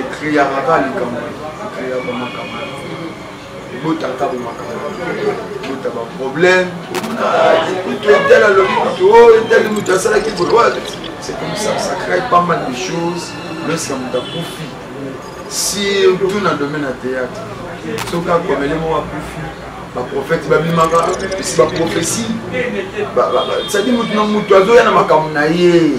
ekreyaka kaka likambo ekreyaka makambo ebotaka bomakambo ebota baproblème kutu etala lobi kutu o oh, etali moto asalaki boye c'est comme ça ça crée pas mal de choses lorsqu'à moto akufi surtout na domaine ya théâtre soki akomeli moko akufi baprofete babimaka esi baprophesie cetadi moto na moto azoya na makambo na ye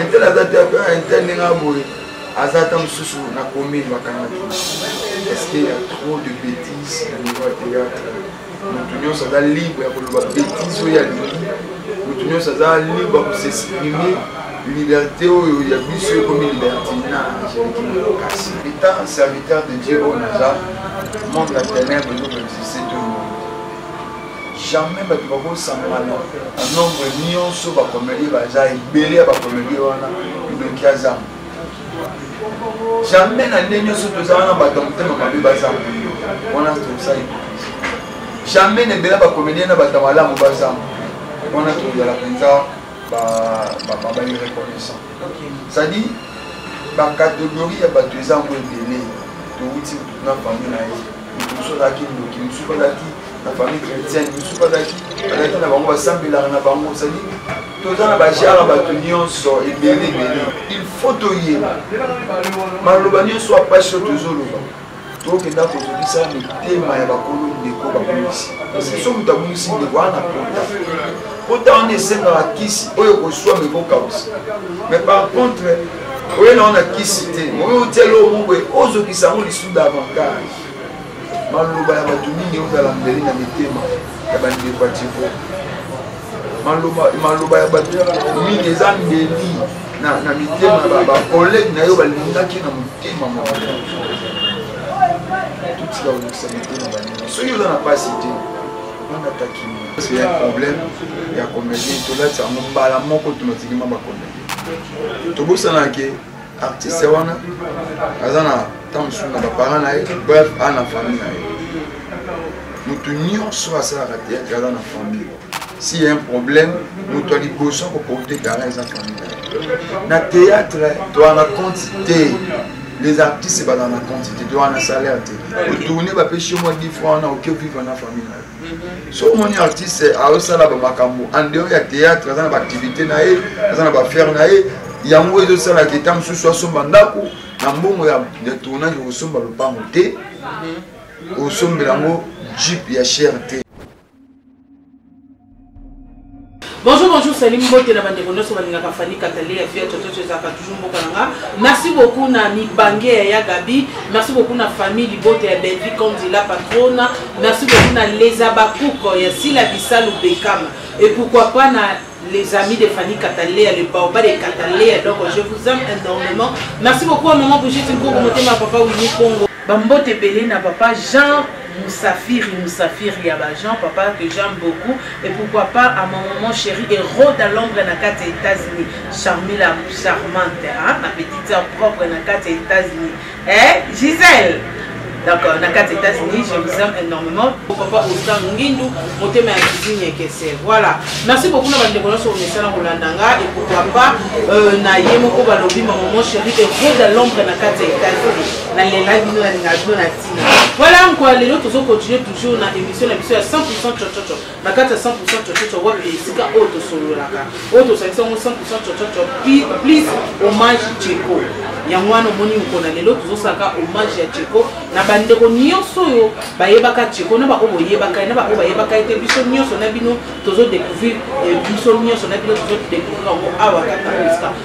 intel aza te ah, intel ndenge aboye aza ata mosusu na commune bakangaki parce que ya trop de bétise na niveau ya théâtre motu nyonso aza libre ya koloba bétise oyo alingi motu nyonso aza libre ya kosexprime liberté oyo ya biso ekomi libertinage kasi etant serviteur de dieu oyo naza monde ya ténèbre ezokoexiste to jamais bato bakosangana na nombre nyonso bakomelie baza ebele ya bakomelie wana ndoki azanga jamais na nde nyonso toza wana bato ya motema mabe bazanga wana toza hypocrisie jamais na ebele bakomelie na bato ya malamu bazanga wana tozala mpenza bairreconnaissant cestadi bakategorie ya bato eza yango ebele towuti na famille na ye mosusu azalaki ndoki mosusu azalaki na famille chrétienne mosusu bazalaki bazalaki na bango basambelaka na bango ozali toza na bajara bato nyonso ebele ebele il faut toyeba maloba nyonso ya mpasi oyo tozoloba tokenda kozokisa mitema ya bakolo ndeko babungisi parceke so moto abungisi ndeko wana pota pota wana esengaka kisi oyo koswama ekokausa mais par contre oye na wana kisi te oye otia eloko moko boye ozokisa yango lisusu davantage maloba ya bato mingi eutala mbeli na mitema ya bandeko ya tiko maloba ya bato mingi eza mbeli na mitema ya bakolege na yo balingaki na motema moko totika kolekisa mitema baninga soki oza na mpasi te bangatakimi problème ya comédie tolati yango mbala moko tonotikima bakomedi tobosana ke artiste wana aza na ntango mosusu na baparent na ye bref aza na famille na ye moto nyonso asalaka théâtre aza na famille s'il y a un problème moto ya liboso akoporte gara eza famille na ye na théâtre toa na compte te les artistes bazala na compte te toa na salaire te otourne bapesi yo mwa difra wana oke vivre na famille na yo soki omoni artiste azosala bamakambo andeo ya théâtre aza na baactivité na ye aza na baaffaire na ye yango ezosalaka eta mosusu asomba ndako na mbongo ya tournage okosomba lopango te osombela yango jeep ya cher te bonjour bonjour salim mbote na bandeko nyonso balingaka fani katale ya via tototo ezalaka toujours mboka na nga merci beaucoup na mibange ya ya gabi merci beaucoup na famille libota ya belvi kondi la patrona merci beaucoup na les abakuko ya sila bisalu bekama et pourquoi pas na les amis de Fanny Cataléa, le Baoba de Cataléa. Donc, je vous aime énormément. Merci beaucoup à Maman Brigitte Nkongo, Motema, Papa Winnie Congo. Ba mbote ebele na papa Jean Musafiri Musafiri ya ba Jean papa que j'aime beaucoup et pourquoi pas à mon maman chérie et Rhoda Londres na kati ya États-Unis Charmila charmante hein ma petite sœur propre na kati ya États-Unis eh Gisèle donc euh, na kati ya États-Unis je vous aime énormément papa Ostan Ngindu motema ya cuisine ekese voilà merci beaucoup na bandeko nyonso omesana kolanda nga et pourquoi pas euh, na ye moko balobi ma maman chérie et Rhoda Londres na kati ya États-Unis nalela bino nalinga bino na ntina voilà nkwa lelo tozokontinue toujours na émission na biso ya 100 cococo na kati ya 100 cococo wapi esika oyo tosololaka oyo tozalisi yango 100 cococo please hommage jeko yango wana omoni mokona lelo tozosalaka hommage ya jeko na bandeko nyonso oyo bayebaka jeko na baoyo boyebaka ye na baoyo bayebaka ye te biso nyonso na bino tozodécouvrir eh, biso nyonso na bino tozodécouvrir yango awa kaka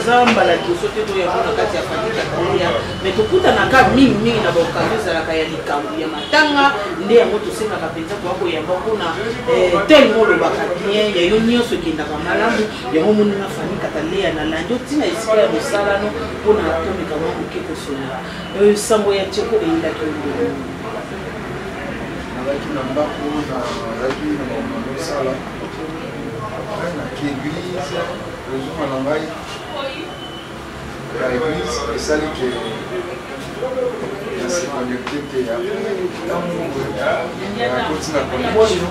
eza mbala liboso te toyako na kati ya famille ya kalia mai tokutanaka mingimingi na baokazio ezalaka ya likambo ya matanga nde yango tosengaka mpenza koya koyamba mpona eh, tele molobaka bien ya yo nyonso ekendaka malamu yango moni na famille kataleya na landi otina esika ya mosalano mpona tomeka mwa moke kosolola eh, sango ya teko eyindaki yo nazalaki na ndako nazalaki na bamama osala après naki église ozonga na ngai ya église esali ke nase connecte te ya ntango akoti na connexion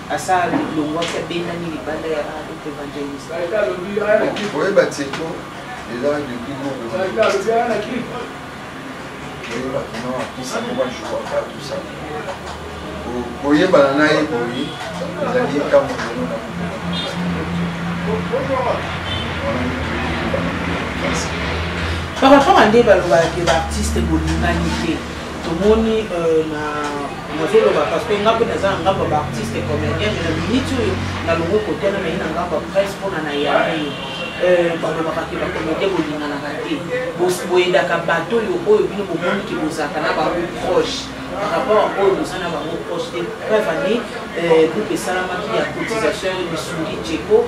Asa alongwaki abendani libanda ya Harupe Evangeliste. Oyeba Tseko eza depuis Google. Oyeba kuna akisa moko jour akatusa. Koyebana na ye boye ezali ntango lelo na Par rapport à nde balobaka ke baartiste bolingani te tomoni euh, na nazoloba parce que nga mpe naza na ngambo ya baartiste comédien me na miniti oyo nalongo kotana naye na ngambo ya presse mpona na yamei euh, balobaka ke bacomédien bolinganaka te boyedaka bato oyo oyo bino bomoni ke bozalaka na bango proche par rapport à oyo boza na bango proche te preuve ane groupe esalamaki ya cotisation ya misuni jeko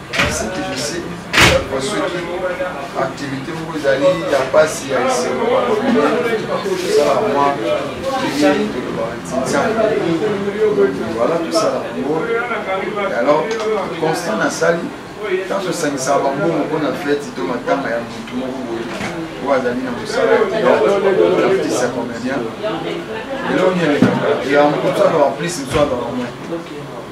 ce que je sais kwa soki activité moko ezali ya mpasi ya esengo tosala mwa liyei tolobaka ntinzana voilà tosala yango alors constant nasali ntango tosangisaka bambongo mpo na feti to matanga ya motu moko boye oyo azali na mosala ya teateartiste ya comédien elongi elekaka ya motu azala plus motu azala moins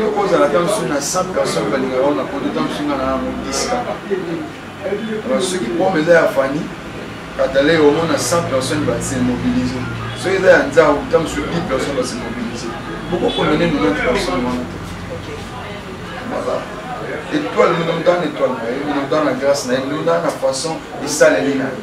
yo kozala ta mosusu na 100 personne balingaka ona poto ta mosusu nga na yango 10 kaka alors soki pome eza ya fani katale omona 100 personne base mobilise soki eza ya nzau ta mosusu 10 personne base mobilise bokokomene 90 personne wana voilà étoile minonda na étoile na ye minonda na grâce na ye minonda na façon esaleli na ye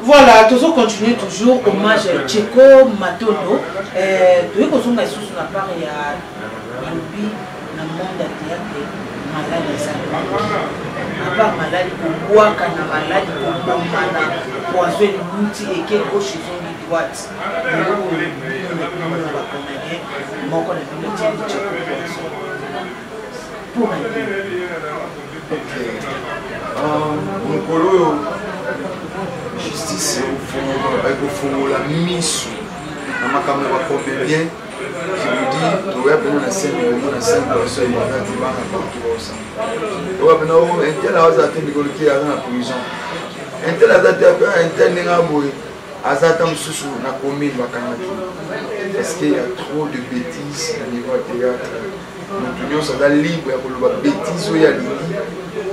Voilà, tozo continuer toujours hommage à Tcheko Matondo. Euh, toye kozonga lisusu na part ya balobi na monde ya théâtre malali ezali apart malali kobwaka na malali kobomana poison elimuti eke gauche ezongi droite eloko na bino na bacanadien moko na bino tieli Tcheko poison Pour un peu. Euh, mokolo oyo justice ekofongola miso na makambo ya bacombelien kibudi toya pena na sene elongo na sene biso ebanda tibana bato baosana oya pena intel aza te mikolo te aza na prison intel aza te intel ndenge aboye aza ata mosusu na commune bakangaki parce que ya trop de bêtise na niveau ya théâtre moto nyonso aza libre ya koloba betise oyo alingi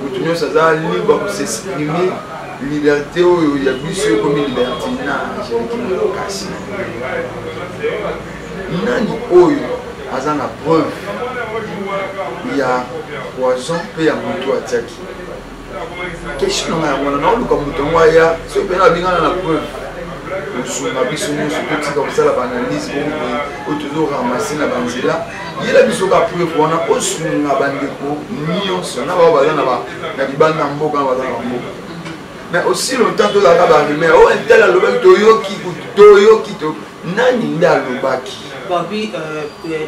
moto nyonso aza libre ya kosexprime liberté oyo ya biso ekomi liberté na kasi nani oyo aza na preuve ya poison mpe ya moto atiaki question nanga yango wana naoluka moto yango aya soki mpena abengana na preuve kosunga biso nyonso totika kosala baanalyse bongoye oyo tozoramase na banzela yela biso ka preuve wana osunga bandeko nyonso na bao baza na libanda mboka na baza na bamboka mais aussi longtemps tozalaka barumeur oyo oh, ntala alobaki toyoki toyoki nani nde alobaki euh, euh,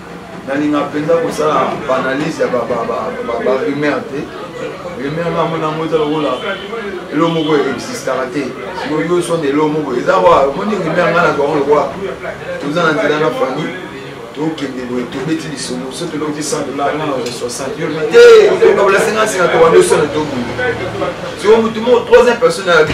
nalinga mpenza kosala baanalyse ya barumeur te rumeur nga mona yango eza lokola elo moko existaka te sikoyo yo sonde elo moko eza wa omoni rumeur nga na bango lokola toza na nzela na fani tokende boye tobeti lisolo so tolokoti 100 dolar nga na 60 yo lobi te okabala 50 singa tobandi osona tobunda sikoyo motu moko troisième personne ayabi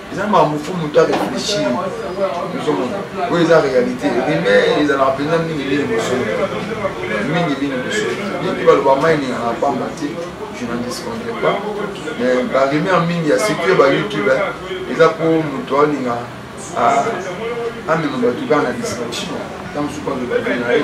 eza makambo fo moto a réfléchir ozomona oyo eza réalité rime ezalaka mpenza mingi bino bosolo mingi bino bosolo mingi baloba mai ningaka pamba te je n'en discontre pas mais barime ya mingi ya secure ba youtube eza mpo moto alinga amema bato kaka na distraction ntango mosuku aloba vie na ye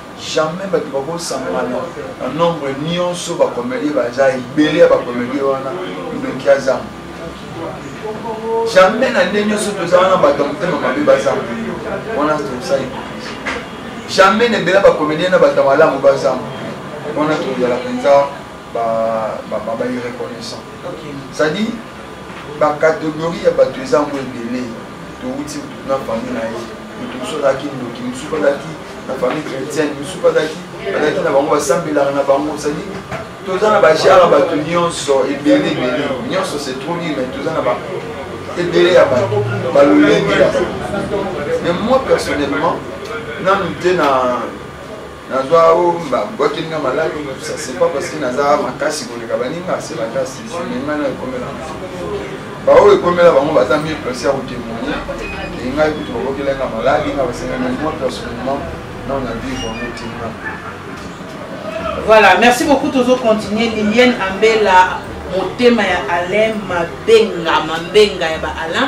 jamais bato bakosangana na nombre nyonso bakomedie baza ebele ya bakomedie wana ndoki azanga jamais na nde nyonso toza wana bato ya motema mabe bazanga wana toza hypocrisie jamais na ebele bakomedie na bato ya malamu bazanga wana tozala mpenza bairreconnaissant c'est-à-dire bacatégorie ya bato eza yango ebele towuti na famille na ye moto mosusu azalaki ndoki mosusu azalaki na famille chrétienne mosusu azalaki azalaki na bango basambelaka na bango sadi toza na bajara bato nyonso ebele ebele nyonso se troli mais toza na ba ebele ya bato balolenge ya bato mais moi personnellement nanu te na nazwa o babwaki nga maladi ça c'est pas parce que naza makasi koleka baninga se makasi sumenga na ekomela baoyo ekomela bango baza mie place ya kotemoigne engai kutu babokela nga maladi nga basengana moi personnellement na na vivre yango tinga voilà merci beaucoup tozo continuer lilienne ambela motema ya alain mabenga mambenga ya ba alain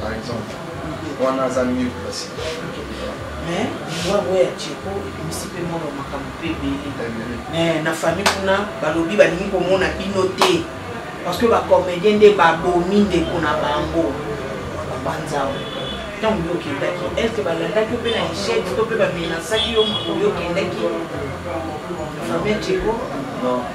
par exemple wana aza mieux place mais liwango ya cheko ebimisi mpe mwana makambo mpe ebele mais na famille kuna balobi balingi komona bino te parce que bacomédien nde babomi ndeko na bango babanzao ntango yo okendaki estce balandaki mpe na echec to mpe bamenasaki yo mokolo yo okendaki famille cheko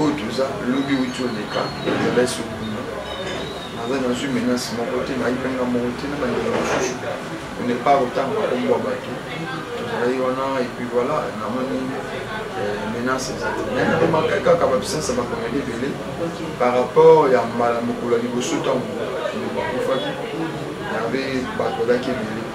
oyo toza lobi outi oleka ezala esokuna naza nazwi menace moko te nayipe nga moko te na bandeko mosusu on n'est pas autant makombo ya bato tozalaki wana epuis voilà namoni euh, menace ezali nayemakaki kaka bapuissance ya bakomeli ebele par rapport ya mbala mokolo ya liboso ntango ndeko akufaki yave bato bazalaki ebele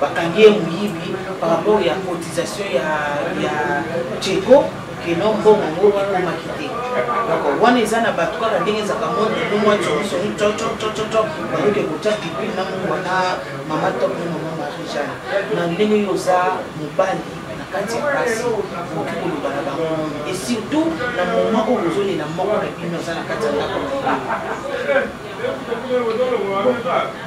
bakangi ye moyibi par rapport ya cotisation ya ya cheko keno mbongo ngo ekomaki te donc wana eza na bato kaka ndenge ezalaka monde nomwa comisoni cococococo bayoki ekotya pipi na mongwa na mama top na mama marie jeanne na ndenge yo oza mobali na kati ya basi okoki koloba na bango et surtout na moma oyo bozolela moko na bino aza na kati ya ndako na bino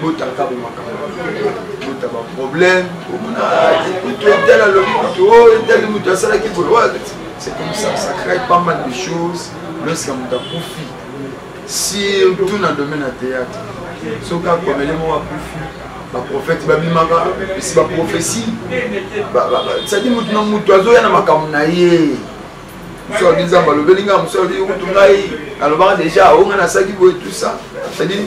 bota kabo makambo bota baproblème omona kutu etala lobi kutu o oh, etali moto asalaki boye c'est comme ça ça crée pas mal de choses lorsque moto akufi surtout na domaine ya théâtre soki akomele moko akufi baprofete babimaka esi baprofesi sadi motu na motu azoya na makambo na ye mosu alobi nzambe alobeli ngai mosu alobi kutu ngai alobaka deja onga nasalaki boye tout ça cestadire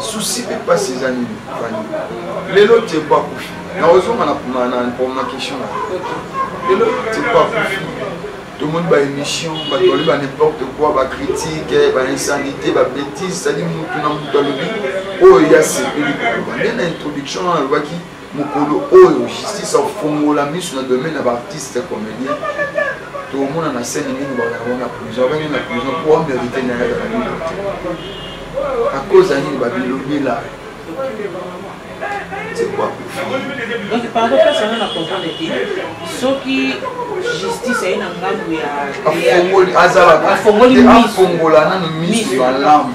susi pe pasi eza nini fani lelo tieko akufi na ozonga na promakestion na lelo tieko akufi tomoni baémission bato balobi ba n'importe quoi bacritique bainsanité babétise sadi motu na motu alobi oyo ye asepeli koloba nde na introduction wana alobaki mokolo oyo justice afongola miso na domaine ya baartiste ya comédien tokomona na scène mingi bayango na prison abenge na prison po amerite na ye na nini a cause ya nini babilobela donc pardon place wana na comprendre te soki justice aye na ngambo ya afongoli azalaka afongola nano miso malamu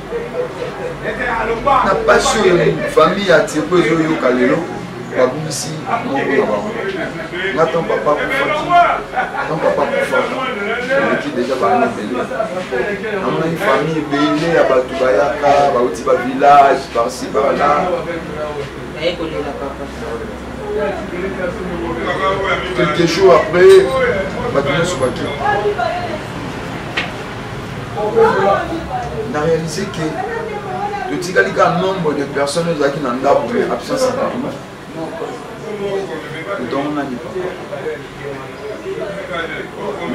na pasi oyo famille ya tiepo ezoyoka lelo babungisi moko na bango nga ntango papa kufaki ntango papa kufaka eleki deja baana ebele namonaki famille ebele ya bato bayaka bauti ba village parci parla quelques jours après bato nyonso bakei na réalise ke totikali kaka nombre de personnes oyo ezalaki na ndako me absence ya bato otongo nani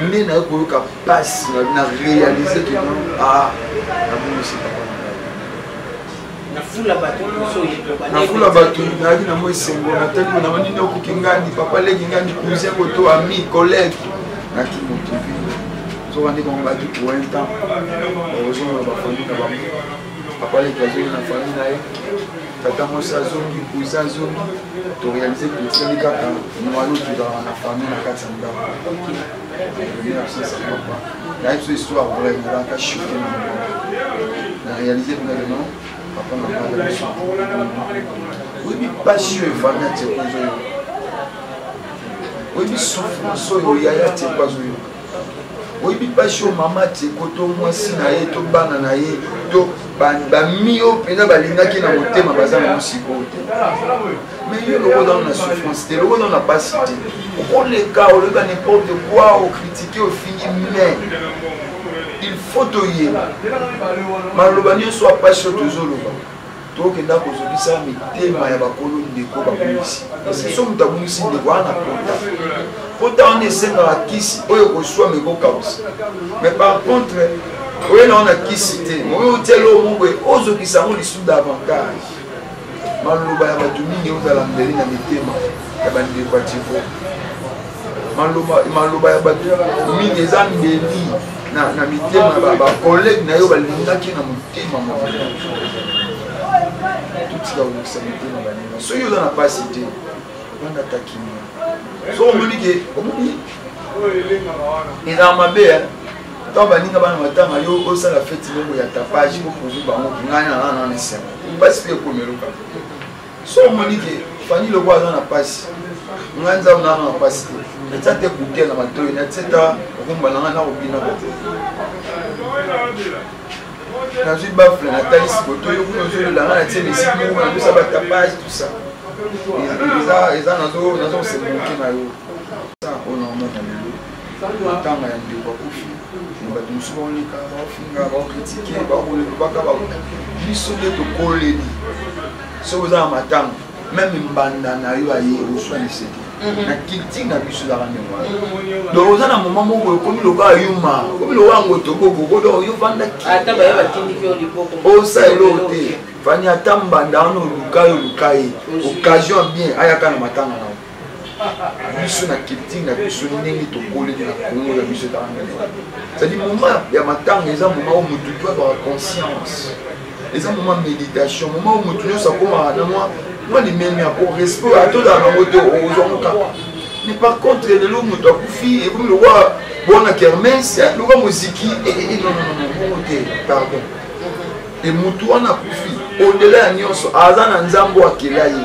nde naye koyoka mpasi na réalise ke non a ah, nabongisi papa nafula bato liboso oyekoba nafula bato nayaki na mwa esengo natali na banini okoki ngandi papa leki ngandi cousin koto ami collègue naki motu soka nde bango baki pour un temps ozonga na bafamille na bango papa leki azongi na famille na ye tata mwasi azongi cousin azongi torealize totikali kaka mwana otuzalaka na famille na kati ya ndako nayebi biso histoire vrai nalaka choke na na réalise ndenge papa na bana biso oyebi mpasi oyo efanda teko ezoyoka oyebi souffrance oyo yaya teko azoyoka oyebi mpasi oyo mama teko to mwasi na ye to bana na ye to bami oyo mpenza balingaki na motema baza na mosiko te mais yo eloko nano na souffrance te eloko nano na basi te okoleka oleka n'importe quoi okritike ofingi mais il faut toyeba maloba nyonso apasi oyo tozoloba tokenda kozokisa mitema ya bakolo ndeko babungisi parceke so moto abungisi ndeko wana na pota pota wana esengaka kisi oyo koswama ekokausa mais par contre oye na wana kisi te oyo otiali oyo moko ozokisa yango lisusu davantage maloba ya bato mingi ekozala mbeli na mitema ya bandeko ya tiko maloba ya bato mingi eza mbeli na mitema ya bakolege na yo balingaki na motema moko totika kolekisa mitema baninga soki oza na mpasi te banda takimia so omoni ke omoni eza mabe ntango baninga bana matanga yo osala feti moko ya tapage oprouve bango ke ngai na nana na esengo mpasi mpe ekomi eloka so omoni ke fani loko aza na mpasi ngai nzambe nana na mpasi te natya te kutia na matoi natya ta okomba na ngai nakobina bato nazwi bafle natalisi koto yo kuna ozolela ngai natye misiki moko nakosa batapage tout ça eza nazosemboki na yo matanga ya ndeko akufi na bato mosusu baonika baofinga baokritike baokolobaka biso nde tokoleli soki oza na matanga meme mbanda na yo aye oswa liseke mhm. na culture na biso ezaka ndenge wana mhm. donc oza na moma moko ekomi lokola yuma okomi lokola yango tokokoko donc yo vandaki osa eloko te fani ata mbanda wana oluka yo oluka ye occasion bien ayaka na matanga na yo biso na culture na biso ndenge tokoleli na kongo ya biso etanga ndenge cetadi moment ya matanga eza moment oyo motu to azwaka conscience eza moment méditation moment oyo motu nyonso akomaka na mwa mwa limemia po respect atozala nango te ozwango kaka mais par contre lelo motu akufi ekomi lokwa bona kermes lokwa moziki nonononobongo te pardon e motu wana akufi odela ya nyonso aza na nzambe akela ye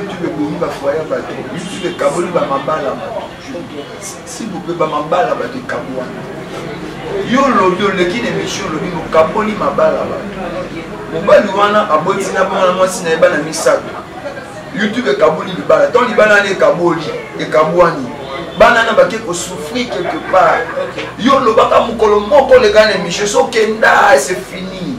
youtube ebomi bafoye ya bato youtube ekaboli bamabala bato sibupe bamabala bato ekabwana yo olobi oleki na emission olobi mokaboli mabala bato mobali wana aboti na bana mwasi na ye bana misato youtube ekaboli libala ntango libala wana ekaboli ekabwani bana na bake kosouffrir quelque part yo olobaka mokolo moko oleka na emission sokenda se fini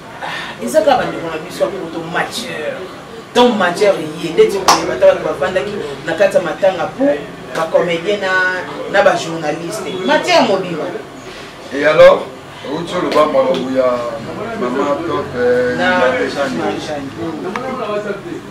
eza kaka bandeko na biso ya poto mature donc mature eye ndeti koyeba ata bato bafandaki na kati ya matanga po bacomédien na bajournaliste matière mobima et alors outi oloba makambo ya mama top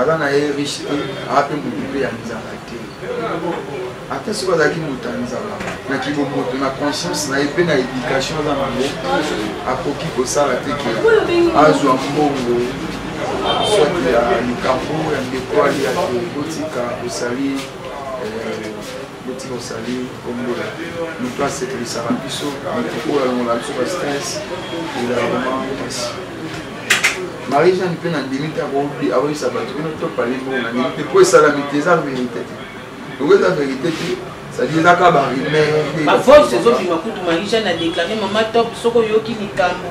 aza na ye riche te aza mpe motu mpe ya nzala te ata soki azalaki moto ya nzala na kibomoto na conscience na ye mpe na éducation aza nango akoki kosala te ke azwa mbongo soki ya likambo ya ndeko aliya te kotika osali eh, Beti Rosalie Kombo moto asepelisaka biso moto oyo alongola biso ba stress ezalaka vraiment mpasi marie jeanne mpe na ndimi te akoyisa bato bino topali bongo na ndimi te mpo esalami te eza verité te yango eza verité te cetadire eza kaka barumeur bavox ezobima kutu marie jeanne adeklame mama top soki oyoki likambo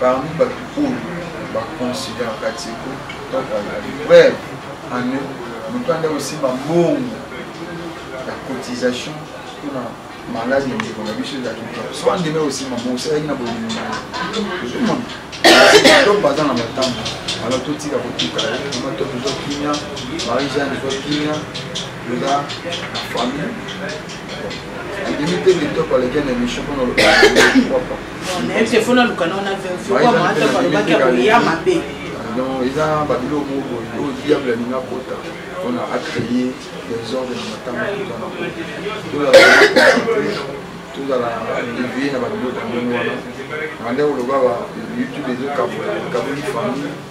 Parmi batu oyo ba considère Katseko to Kayali, preuve en est moto ande osimba mbongo ya cotisation mpona maladi ya ndeko na biso ezalaki te so andimi osimba mbongo osalaki na bolingo na ye to baza na matambo alo totika kotika mama to tozo kimia marie jeanne ezo kimia eza na famille ebimi te kitoko aleki na emission mpona lokoapo telefone alukana wana verfioamaato alobaki akoya mabe non eza babiloko moko boye oyo diable alingi akota mpona acreye desordre na matanga tozala devie na babiloko ya ndenge wana na ndenge oloba ba youtube ezokabola ekaboli famille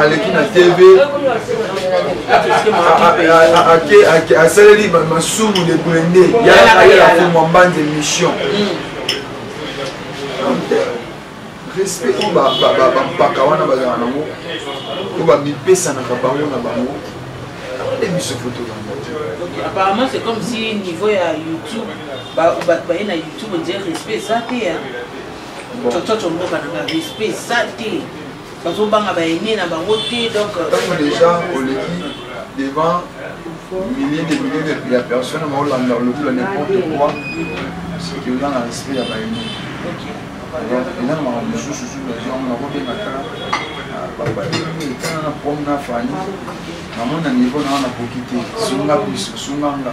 aleki na tv asaleli masumu de blende yayela fomwa mbanza émission respect oyo bampaka wana bazala nango oyo bamipesanaka bango na bango nde biso foto yango apparemment c'est comme si niveau ya youtube bato baye na youtube ondire respect eza te cococo mboka na nga respect eza te bazobanga baene na bango te donc ntango déjà oleki devant milliers de milliers de ya personne maolanda olobi la n'importe quoi soki oza na respect ya baene eza na makambo mosusu su baziango nakobenga kaka babaietana na prom na fani namona niveau na wana nakoki te sunga biso sunga nga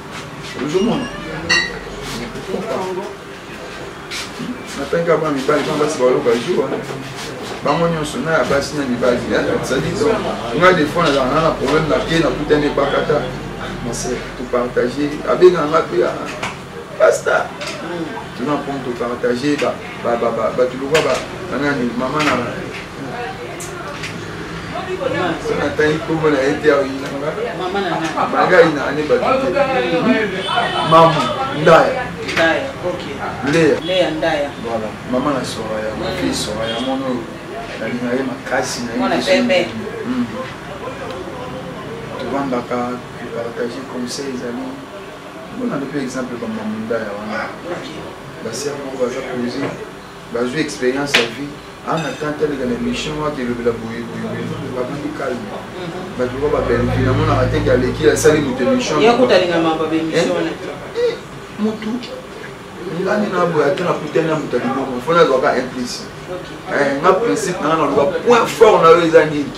ozomona natangaka ba mibali mpo basi baoyo bajour bango nyonso na ya basi na mibali sadi donc nga des fois nazalaka na na problème na ke nakutani ebakata mase topartage abengaka nga mpe pasta tuna mpo topartage bato lokwa banani mama na natangi kombo na ye te aoyinanga banga ayinanga ne bato te mamu ndaya leya voilà mama na soraya mafille soraya mwana oyo nalinga ye makasi na ye hmm. tobandaka kopartage conseil ezali mpona nde mpe exemple bamamundaya wana basi yango baza pose bazwi expérience ya vie ana ah, tante aleka na émission wana telobela boyeboye babandi calme mhm. bato ba babelvi namonaka te ke aleki asali moto émission eh? motu ngani na boye ata na kutani ya moto ya libongo fo nazwaka implice eh, nga principe nanga naloba point fort na yo eza nini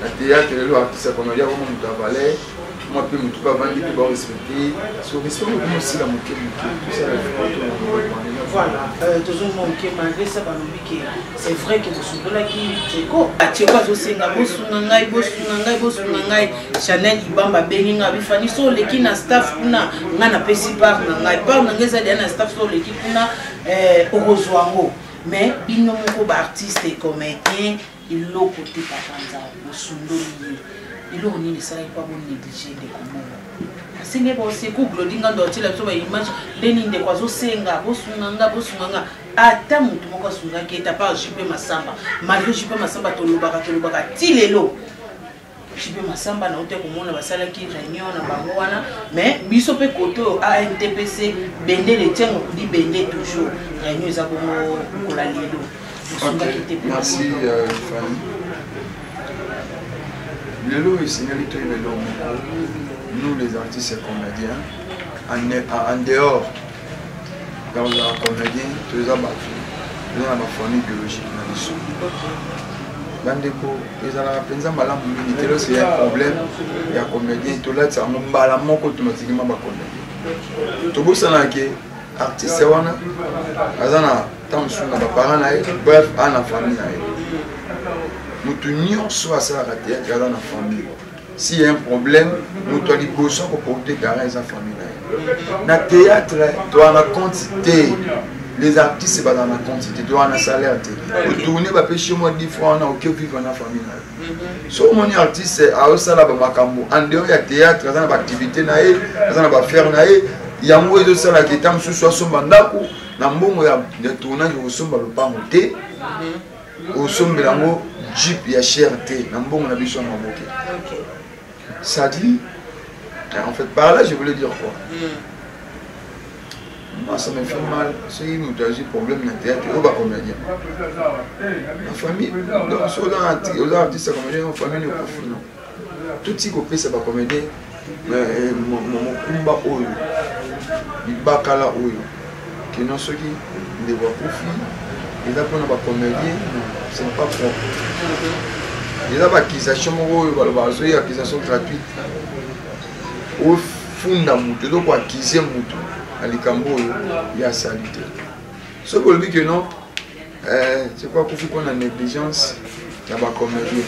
na théâtre lelo artiste akono ya koma moto ya valeur mwa mpe motu mpe avandi mpe barespecte so respect mokoma osila moke moke tosala Voilà, euh, tozomona moke malgré ça balobi ke c'est vrai ke bosunolaki ceko ceko azosenga bosunga ngai bosunga ngai bosunga ngai chanel ibamba abengi ngai bifani so oleki na staff kuna ngai napesi part na ngai part na ngai ezali ya na staff so oleki kuna euh, okozwa yango mais bino moko baartiste comédien eloko te papa nzambe bosundoli ye eloko nini esalaki mpo bonéglige ndeko moko asengi baoseku glodi ngando atyela biso baimage nde nini ndeko azosenga bosunga nga bosunga nga ata motu moko asungaki ye ta part jupe masamba malgre jupe masamba tolobaka tolobaka ti lelo JB Massamba na uta komona basalaki réunion na bango wana mais biso mpe kote oyo ANTPC bende le tiango kudi bende toujours réunion eza bongo kola lelo osungaki te merci euh, Fanny lelo esengeli toyeba eloko nous les artistes comédiens en dehors ya kozala comedien to eza bato eza na bafamille biologique na biso bandeko ezalaka mpenza malamu mingi te losi ya problème ya comedien tolatisa yango mbala moko tomatikima bacomedien tobosana ke artiste wana aza na ntango mosusu na baparent na ye bref a na famille na ye moto nyonso asalaka teyatre aza na famille si ya un problème moto ya liboso akoporte gara eza famille na ye na théâtre toa na compte te les artistes baza na compte te toa na salaire te otourne bapesi yo mwa difra wana oke vivre na famille na yo mhm. so omoni artiste aosala bamakambo en dehors ya théâtre aza na baactivité na ye aza na bafaire na ye yango ezosalaka eta mosusu asomba ndako na mbongo ya tournage okosomba lopango te mhm. osombela yango jeep ya cher te na mbongo na biso ya maboke sadi en fait par là je voulais dire quoi hmm. moi ça me fait mal soki moto azwi problème na théâtre oyo bacomédien na famille donc soki oza artiste ya comédien na famille ekofi non Tuti kopesa ba comedien eh, mokumba oyo libakala oyo kino soki ndeko akufi eza mpona ba comedien c'est pas propre eza ba accusation moko oyo baloba azoyi accusation gratuite ofunda motu ezo koakize motu na likambo oyo ya salite soki olobi ke non Eh, je crois kufi mpo na négligence ya bacomédien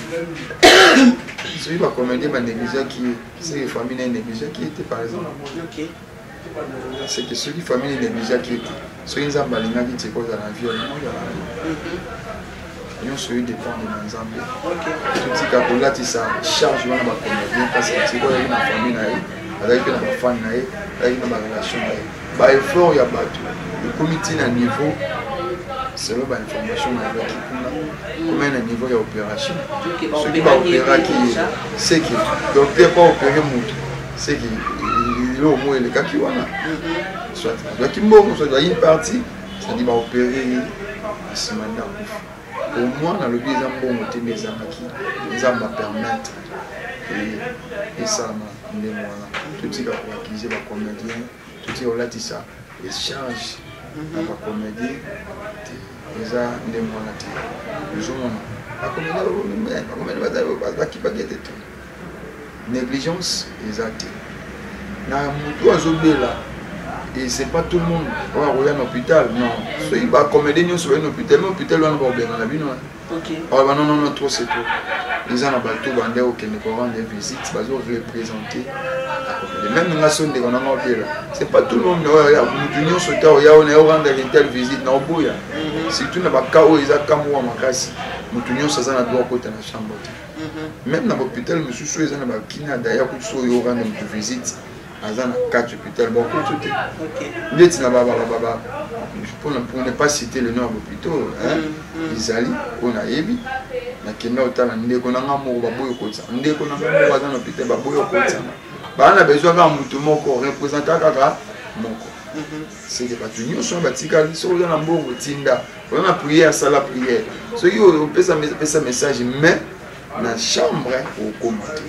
soki bacomédien banégligeaki ye seke famille naye négligeaki ye te par exemple seke soki famille naye négligeaki ye te soki nzambe alingaki te kozala na vie olingo ozala na vie nyonso oyo dépendre na nzambe totika kolatisa charge wana bacomédien parce que sikoyo ayaki na famille na ye azalaki mpe na bafane na ye azalaki na barelation na ye ba effort ya bato ekomi ti na niveau selon ba information nayebaki kuna komai na niveau ya opération soki baopéraki ye seke docteur pa opéré motu seke eloko moko elekaki wana soit azwaki mbongo soit azwaki parti cetadi baopéré ye nsima nde akufa au moins nalobi eza mbongo te nde ezangaki nzambe apermettre esalama ndenge wana totika koakize bacomédien totika kolatisa echange na bacomédie te eza ndenge wana te ozomona bacomédien bazali bakipaki ete te négligence eza te na motu oyo azobela et c'est pas tout le monde oyo akoya na hôpital non soki bacomédie nyonso baye na hôpital ma hôpital wana bakobenda na bino aloba non non trop c'est trop eza na bato bande okende korendre visite bazoreprésente même nga so ndeko nanga obela c'est pas tout le monde oyo motu nyonso ta oya oyo naye orendre intel visite na oboya surtout na baka oyo eza kamwa makasi motu nyonso aza na droit okota na chambre te Mhm. Même na hôpital mosusu eza na ba kina daya kutu so yo rendre mutu visite aza na kati hôpital bakutu te ndeti na babababa mpona pour ne pas citer le nom ya bopitaux ezali mm, mm. oyo nayebi nakenda otala ndeko na nga moko baboyi kotisana ndeko na nga moko aza na hôpital baboyi kotisana baa na besoin kaka motu moko représentant kaka moko mhm. seke bato nyonso wana batikali soki oza na mbongo tinda oza na priere sala priere soki opesa pesa message mais na chambre okoma te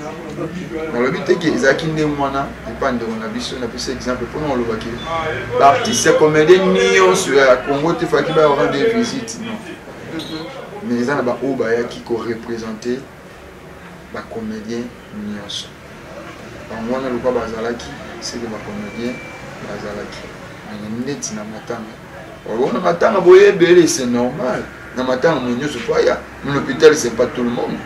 nalobi te ke ezalaki ndenge wana epa ndeko na biso napesa exemple mpona olobaki baartiste ya comédien nyonso ya congo te faki baya orande visite non mais eza na baoyo bayaki korepresente bacomédien nionso bango wana lokola bazalaki ce que ba comedien bazalaki mais neti na matanga olona matanga boye ebele c'est normal na matanga mo nionso fo aya na l'hôpital c'est pas tout le monde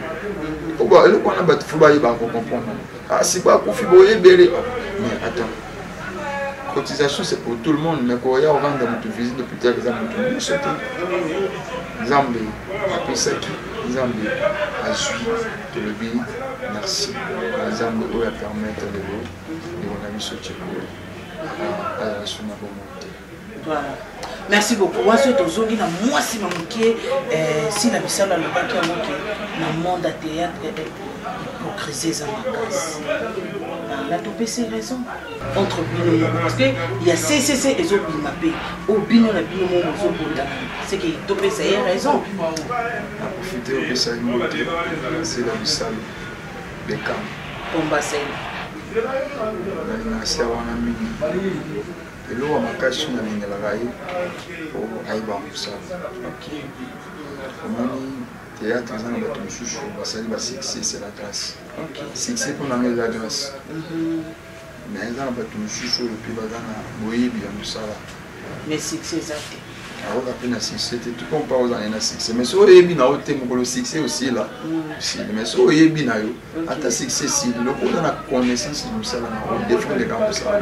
oba eloko wana bato fo bayeba ko comprendre ah si ba kufi boye ebele mais attends cotisation c'est pour tout le monde mais koya oranda moto visite d'hôpital eza moto nyonso te nzambe apesaki nzambe azwi Tolobi merci na Nzambe oyo a permettre lelo ndeko na biso Tsheko azala su na bomoi te. Voilà. Merci beaucoup. Waso tozongi na mwasi ma moke eh, si na bisala alobaki yango ke na monde ya théâtre eh, eh, hypocrisie eza makasi. Na topesi raison. entre bino moko parce que ya ccc ezobima mpe o bino na bino moko bozobota seke topesa ye raison aprofite opesa ye moto nase na misalo bekam pombasel nalingasi ya wana mingi eloko makasi nalingelaka ye po ayeba mosala omoni théâtre eza na bato mosusu basali ba succès c'est la classe succès mpo na ngai eza grâce me mhm. eza na bato mosusu oyo mpe baza na boyebi ya mosala mais succès eza te akoka mpe na succès te tout comme mpa ozala na succès mais soki oyebi na yo te mokolo succès osila mm. osili mais soki oyebi na yo ata succès esili loko oza na connaissance ya mosala na yo defendeka mosala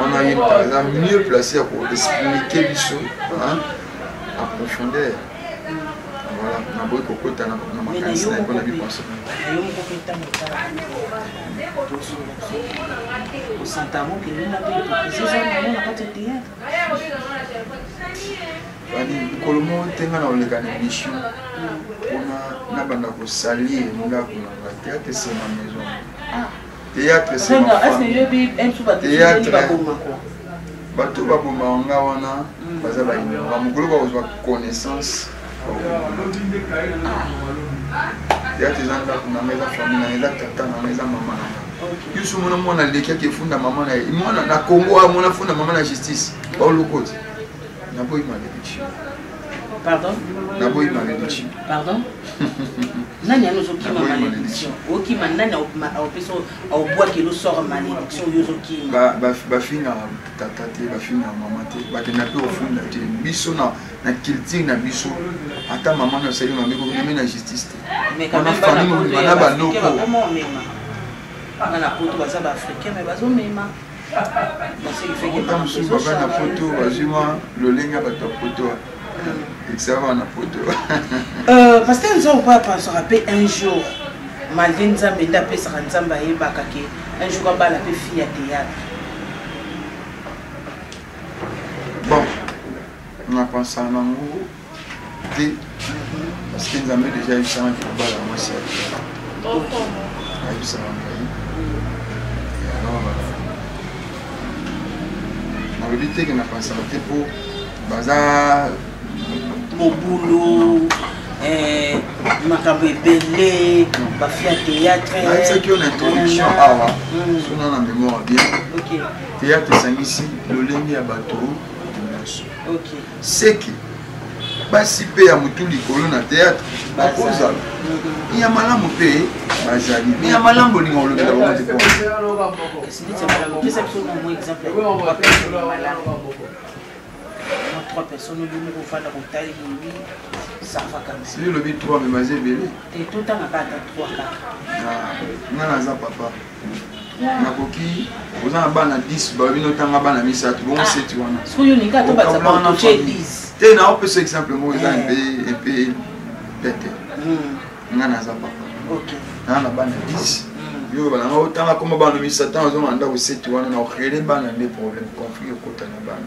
wana ye moto aza mieux place ya koexplike biso a profondeur voilà naboyi kokota na makanisi na yango na biposo mokolo moko te ngai na oleka na emission mpona nabanda kosalie ndako na nga te ate sema maison théâtre théâtre bato babomaka nga wana hmm. baza bainora mokolo bakozwa connaissance théâtre eza ndako nanga eza famille nanga eza tata nanga eza mama nanga yusu mona mwana alekaki efunda mama na ye mwana na congo amona funda mama na justice baolokoti naboyi malediction naboyi malediction nani yani ozokima malédiction okima nani aopesa aobwakeli osora malédiction oyo ozokima bafinga tata te bafinga mama te bakenda mpe ofunda te biso na culture na biso ata mama na osali mabe komeme na justice te wana famille na banoko bana poto baza baafricain me bazomema Ata mosusu baba na poto bazwi mwa lolenge ya bato ya poto ekisaka wana poto euh, paster nzongo mpo apansaka mpe un jour malgre nzambe nde apesaka nzambe ayebaka ke un jour abala mpe fille ya théâtre bon napansaka nango te parce que nzambe deja ayebisamaki kobala mwasi ya ayebisaka ngai alors nalobi te ke napansaka te mpo baza mobulu eh, makambo ebele bafi ya théâtrenayebisaki yo na introduction awa hmm. sona na mémoire bien théâtre esangisi lolenge ya bato nyonso seke basi mpe ya motu likolo na théâtre bakozala ya malamu mpe bazali me ya malamu bolinga olobela bango te trois personnes olingi kofanda kotali lobi savakansi lobi trois me baza ebele totangaka ata trois kaka nga naza papa nakoki oza na bana 10 bayebi notanga bana misato bongo ah, seti wana te naopesa exemple moko eza mpe eh. mpe pete hmm. nga naza papa naa na bana 10 hmm. yo balanga otanga koma bana misato azonga ndako seti wana na orele bana nde problème conflit okota na bana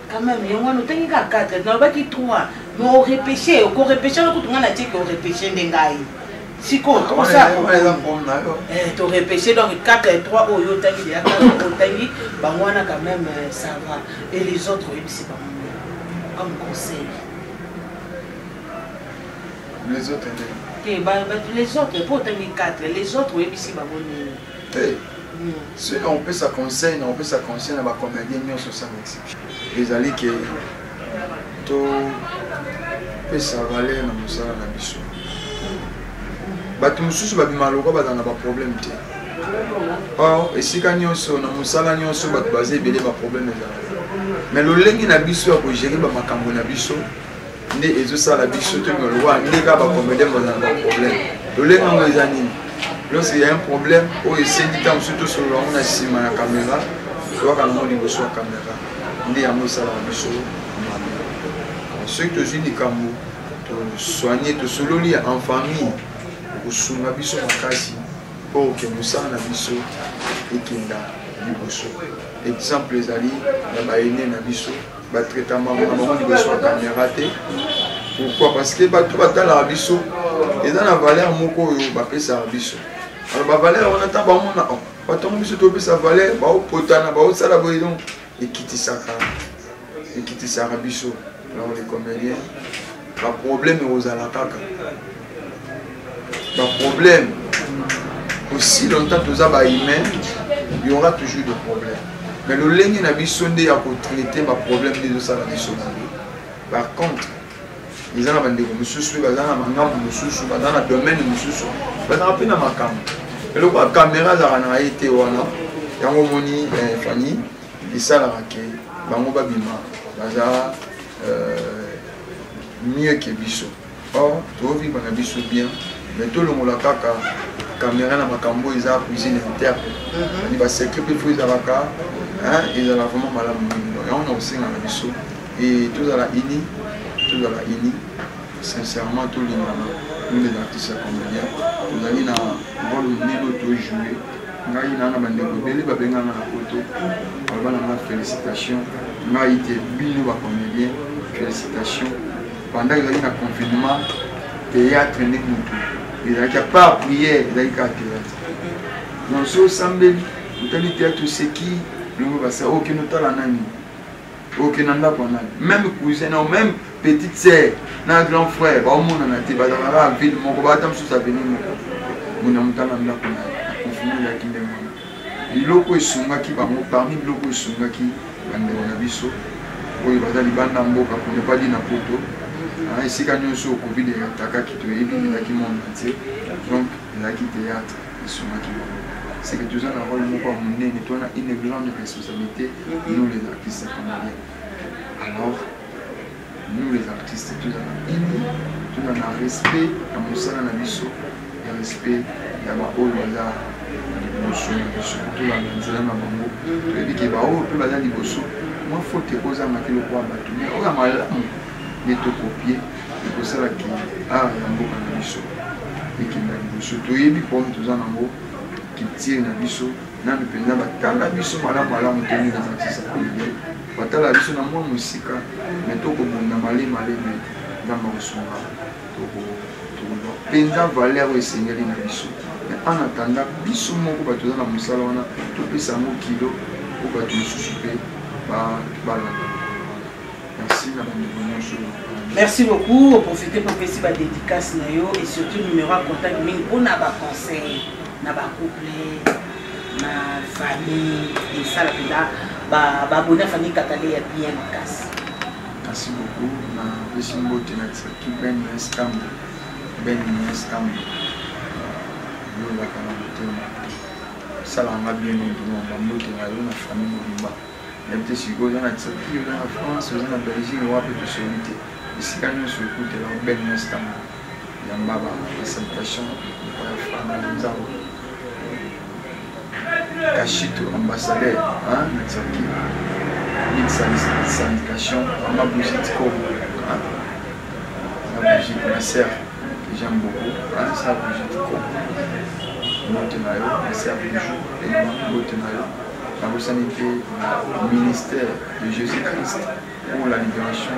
quand même yango wana otangi kaka 4 nalobaki 3 mais orepeshe okorepeshe wana kutu ngai natieke orepeshe nde ngai sikoyo ah, torepeshe eh, donc 4 et 3 oyo otangi deya otangi bango wana quand même euh, ça va et les autres oyebisi bango comme conseil les autres te les autres mpo otangi 4 les autres oyebisi bango nini te soki nakopesa conseil nakopesa conseil na bacomédien nyonso sans exception ezali ke topesa valeur na mosala na biso bato mosusu babima lokwa bazala na baproblème te or esika nyonso na mosala nyonso bato baza ebele baproblème ezala mais lolenge na biso ya kogere bamakambo na biso nde ezosala biso toyeba lokola nde kaka bacomédien bazala baproblème lolenge yango eza nini lorsque ya un problème oyo esengi ntango mosusu tosolola yango na nsima ya kamera toyaka nango liboso ya kamera nde yango esalaka biso mabe soki tozwi likambo tosoigne tosololi en famille kosunga biso makasi mpo oke mosala na biso ekenda liboso exemple ezali na baene na biso batraita mbango na bango liboso ya kamera te pourquoi parce que bato batalaka biso eza na valeur moko oyo bapesaka biso alors bavaleur wana ntango bamona oh, bato yango biso topesa valeur baopotana baosala boye donc ekitisaka ekitisaka biso alors le comédien ba problème ekozala kaka ba problème aussi longtemps toza ba humain il y aura toujours des problèmes mais lolenge na biso nde ya kotraite ba problème nde ezosala biso mabe par contre eza na bandeko mosusu baza na mangambo mosusu baza na domaine mosusu bazaka mpe na makambo eloko ya kamera azalaka na ye te wana yango omoni eh, fani esalaka ke bango babima baza euh, mieux que biso or tovivre na biso bien mais tolongola kaka caméra na makambo oyo eza cuisine interne mhm. ani basecret mpe fo ezalaka ezala vraiment malamu mingi donc yango na kosenga na biso e tozala ini tozala ini sincèrement tolingana nous les artistes ya comédien tozali na role monene oyo tojoue ngai naa na bandeko ebele babenga nga na poto baloba na nga félicitation ngai te bino bacomédien félicitation pendant ezalaki na confinement théâtre nde motu ezalaki apart prière ezalaki kaka théâtre donc so osambeli otali théâtre oseki bino basa okende otala nani oke na ndako ya nani meme cousin nao meme petite sœur na grand frère baomonana te bazalaka kaka ville moko baata mosusu aveni moko mona motanga ndako na akonfini yaki ndenge wana biloko esungaki bango parmi biloko esungaki bandeko na biso oyo baza libanda mboka pone padi na poto ah, esika nyonso covid eatakaki toyebi elaki monde entier donc elaki théâtre esungaki bango c'est que toza na role moko ya monene toa na une grande responsabilité mhm. nous les artistes congolais alors nous les artistes toza na ini toza na respect ya mosala na biso ya respect ya baoyo baza liboso na biso tolanda nzela na bango mhm. toyebi ke baoyo mpe baza liboso mwa fote ekozanga te lokola bato me oyo ya malamu nde tokopie ekosalaki art ya mboka na biso ekenda liboso toyebi problème toza nango culture na biso nanu mpenza batala biso malamu malamu toni na matisa kolebe batala biso na mwa mosika me tokobunda male male me nzambe akosunga tokoba mpenza valeur oyo esengeli na biso me en attendant biso moko bato oza na mosala wana topesa yango kilo mpo bato mosusu mpe balanda Merci beaucoup. Au profiter pour passer ma dédicace et surtout numéro à contact pour na ba conseil, na ba couple, na famille et ça la peda ba ba bonne famille katale ya bien makasi. Merci beaucoup. Na bisi mbote na tsaki ben estam. Ben estam. Yo la kana motema. Ça la m'a bien aidé na mbote na yo na famille mobimba. nayebi te sikoyo oza na turquie oza na france oza na belgique wapi tosoli te esika nyonso ekutela obele na stana yamba basalutation ya frana na nzambo kashito ambassadeur na turquie mille syndication mama brigitte kobo na brigitte ma sœur que j'aime beaucoup sa brigitte kobo mbote na yo ma sœur bijou elima mbote na yo nabosani mpe ministère de jésus christ pour la libération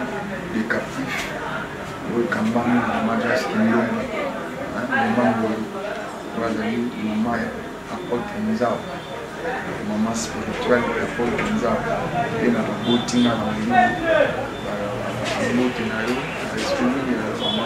des captifs oyo ekambami na magas kilomba mama ngolu oyo azali mama ya apotre nzao mama spirituel ya apotre nzao mpe na baboti nga na molimo babote na yo na respect mingi na mama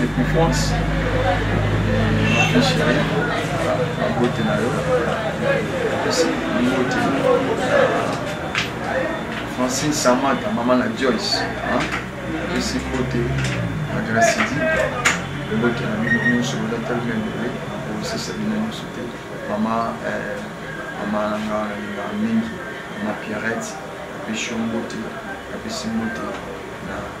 Depuis France, ma fille chérie, ma beauté na yo, kasi beauté. Francine Samata, maman na Joyce, hein? Kasi beauté, ma Gracidi, beauté na bino nyonso, oza tellement belle, okosesa bino nyonso te. Mama, eh, mama na nga nalingaka mingi, mama Pierrette, apesi yo mbote, apesi mbote na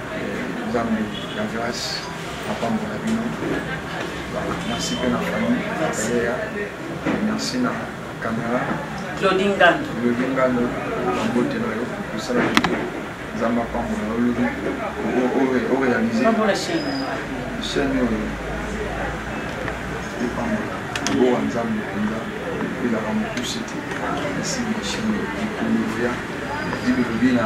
nzambe ya grace apambola bino merci mpe na famille aleya merci na camera claudi ngando claudi ngando bambote na yo osala nzambe apambola yo lobi orealize chaine oyo epambola bowa nzambe mpenza elaka mokuse te esi mashine ekoloya dibelobi na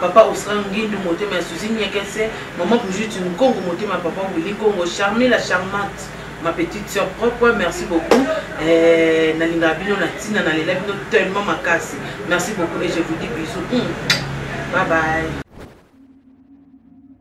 Papa Osran Ngindu motema ya Suzy Nyekese, maman Brigitte Nkongo motema ya papa Willy Nkongo, Charmie la charmante ma petite sœur propre merci beaucoup eh, nalingaka bino na ntina nalela bino tellement makasi merci beaucoup et je vous dis bisous mm. bye bye